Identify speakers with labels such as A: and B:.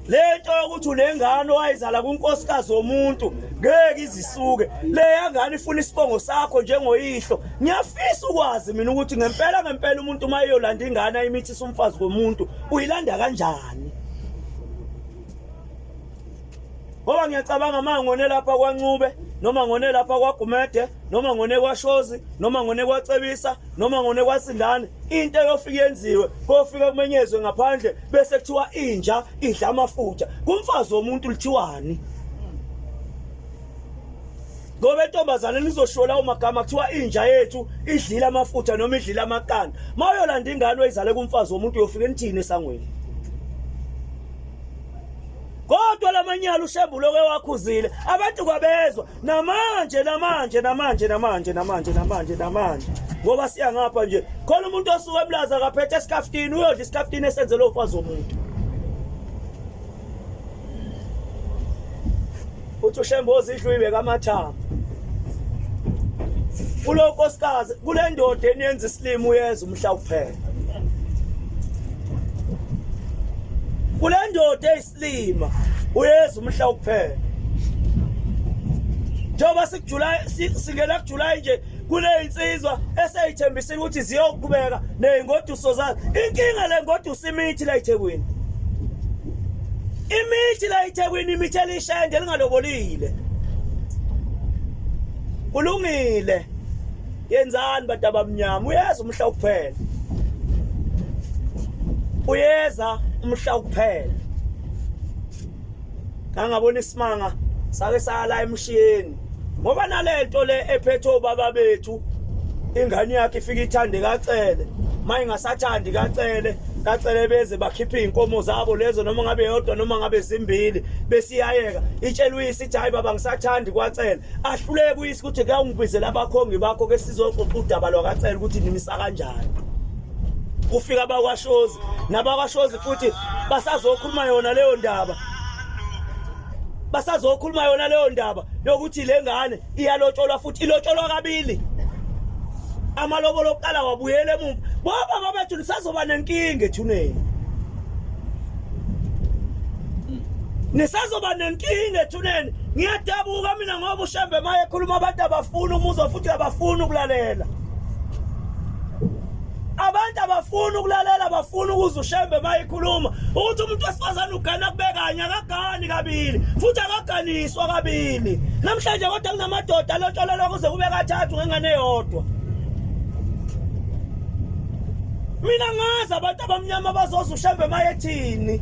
A: lento yokuthi unengane owayizala kunkosikazi womuntu ngeke izisuke leya ngane ifuna isibongo sakho njengoyihlo ngiyafisa ukwazi mina ukuthi ngempela ngempela umuntu uma eyolanda ingane ayimithisa umfazi komuntu uyilanda kanjani ngoba ngiyacabanga uma ngone lapha kwancube noma ngone lapha kwagumede noma ngone kwashozi noma ngone kwacebisa noma ngone kwasindane into eyofika yenziwe kofika kumenyezwe ngaphandle bese kuthiwa inja idla amafutha kumfazi womuntu lithiwani ngoba intombazane nizoshola umagama kuthiwa inja yethu idlile amafutha noma idlile amaqanda uma uyolanda ingane oyizale kumfazi womuntu uyofike nithini esangweni kodwa lamanyala ushembulo ke wakhuzile abantu kwabezwa namanje namanje namanje namanje namanje namanje namanje ngoba siya ngapha nje khona umuntu osuke ebulaza akaphethe isikafutini uyodla isikafutini esenzelwe umfazi womuntu uthi ushembozi idlu ibeka amathanga kulo nkosikazi kule ndoda eniyenza isilima uyeza umhla kuphela kule ndoda Lima uyeza umhla ukuphela njengoba sikujuly singena kujuly nje kuneyinsizwa eseyithembisile ukuthi ziyoqhubeka nezingoduso zayo inkinga le ngoduso imithi la eThekwini imithi la eThekwini imithi elishende lingalobolile kulungile yenzani bantu abamnyama uyeza umhla ukuphela uyeza umhla ukuphela ngangabona isimanga sake sala emshiyeni ngoba nalento le ephethe obaba bethu ingane yakhe ifika ithande kacele maye ngasathandi kacele kacele beze bakhiphe izinkomo zabo lezo noma ngabe yodwa noma ngabe zimbili besiyayeka itshelwe ethi hayi baba ngisathandi kwacela ahluleke uyise ukuthi kuyawungibizela abakhongi bakho ke sizoxoxa udaba lwakacela ukuthi nimisa kanjani kufika abakwashozi nabakwashozi futhi basazokhuluma yona leyo ndaba basazokhuluma yona leyo ndaba yokuthi le ngane iyalotsholwa futhi ilotsholwa kabili amalobolo okuqala wabuyela emuva baba babethu nisazoba nenkinga ethuneni nisazoba nenkinga ethuneni ngiyadabuka mina ngoba ushembe maye ekhuluma abantu abafuni umuzwa futhi abafuni ukulalela abantu abafuni ukulalela bafuni ukuze ushembe uma ikhuluma ukuthi umuntu wesifazane ugana kubekanye akagani kabili futhi akaganiswa kabili namhlanje kodwa kunamadoda alotsholelwa kuze kube kathathu ngengane eyodwa mina ngazi abantu abamnyama bazoza ushembe uma ethini